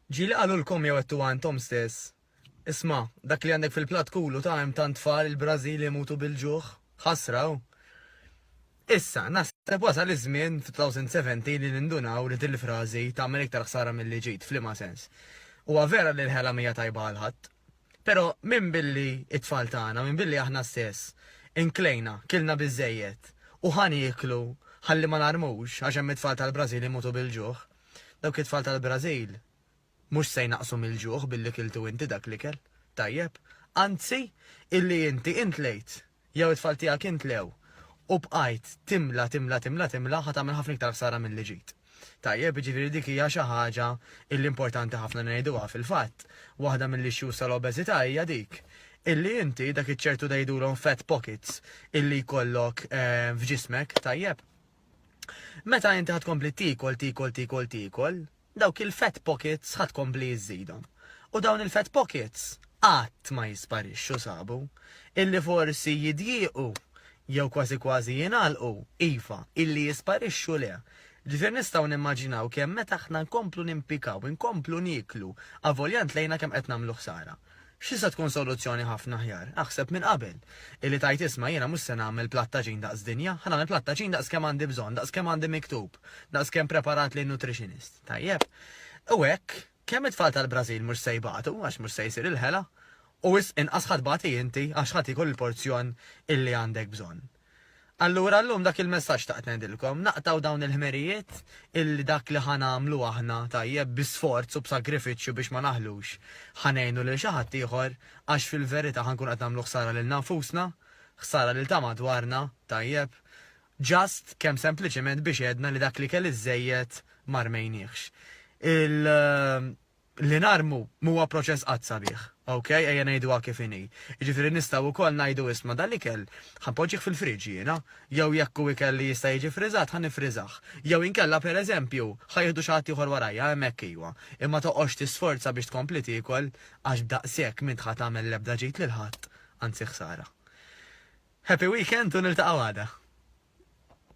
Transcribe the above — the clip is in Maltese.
Ġieli qalulkom jew għedtuha intom stess, Isma', dak li għandek fil-platt kulu ta' hemm tant tfal il-Brażil imutu bil-ġuħ. Ħasra, hu! Issa, naħseb wasal iż-żmien fit-2070 li nindunaw li din il-frażi tagħmel iktar ħsara milli ġid. F'liema sens? Huwa vera li l-ħela m'hija tajba għal ħadd. Però minbilli t-tfal tagħna, minbilli aħna stess, inklejna, kilna biżżejjed, u ħa nieklu ħalli ma narmux għax hemm it-tfal tal-Brażil imutu bil-ġuħ, Dawk it-tfal tal-Brażil mhux se jnaqqsu mill-ġuħ billi kiltu inti dak l-ikel, tajjeb, anzi, illi inti intlejt, jew it-tfal tiegħek intlew, u bqajt timla, timla, timla, timla, ħa tagħmel ħafna iktar ħsara milli ġejt. Tajjeb, jiġifieri dik hija xi ħaġa illi importanti ħafna ngħiduha, fil-fatt, waħda mill-issues tal-obeżità hija dik, illi inti dak iċ-ċertu tgħidulhom fat pockets illi jkollok f'ġismek, tajjeb, Meta inti ħad kompli tikol, tikol, tikol, tikol, dawk il-fat pockets ħad kompli jizzidom. U dawn il-fat pockets qatt ma jisparixxu sabu. Illi forsi jidjiequ jew kważi kważi jingħalqu, iva, illi jisparixxu le. Ġifier nistgħu nimmaġinaw kemm meta aħna nkomplu nimpikaw, inkomplu nieklu, avolja ntlejna kemm qed nagħmlu ħsara. X'tista' tkun soluzzjoni ħafna aħjar, aħseb minn qabel, illi tgħid isma' jiena mhux se nagħmel platt taġin daqs dinja, ħa nagħmel platt taġin daqs kemm għandi bżonn, daqs kemm għandi miktub, daqs kemm preparat li n-nutritionist. Tajjeb. U hekk, kemm it-tfal tal-Brażil mhux se jbatu, għax mhux se jsir il-ħela, u wisq inqas ħadd tbati inti għax ħadd jiekol il-porzjon illi għandek bżonn. Allura llum dak il-messaġġ xtaqt ngħidilkom, naqtgħu dawn il-ħmerijiet illi dak li ħa nagħmlu aħna tajjeb bi sforz u b'sagrifiċċju biex ma naħlux ħa ngħinu lil xi ħadd ieħor għax fil-verità ħa nkunu qed nagħmlu ħsara lilna nfusna, ħsara lil ta' madwarna, tajjeb? Just kemm sempliċement biex għedna li dak li kelli żżejjed ma rmejniehx. Il. Li narmu m'huwa proċess qatt sabiħ, ok, ejja ngħiduha kif inhi. Jiġifieri nistgħu wkoll ngħidu isma' dan l-ikel ħa npoġġih fil-fridge jiena, jew jekk hu ikel li jista' jiġi ffriżat ħa niffriżah. Jew inkella pereżempju ħa jieħdu xi ħadd ieħor warajja, hemmhekk ejwa. Imma toqgħodx tisforza biex tkompli tiekol għax b'daqshekk m'int ħa tagħmel l-ebda ġid lil ħadd, anzi ħsara. Happy weekend u niltaqgħu għada!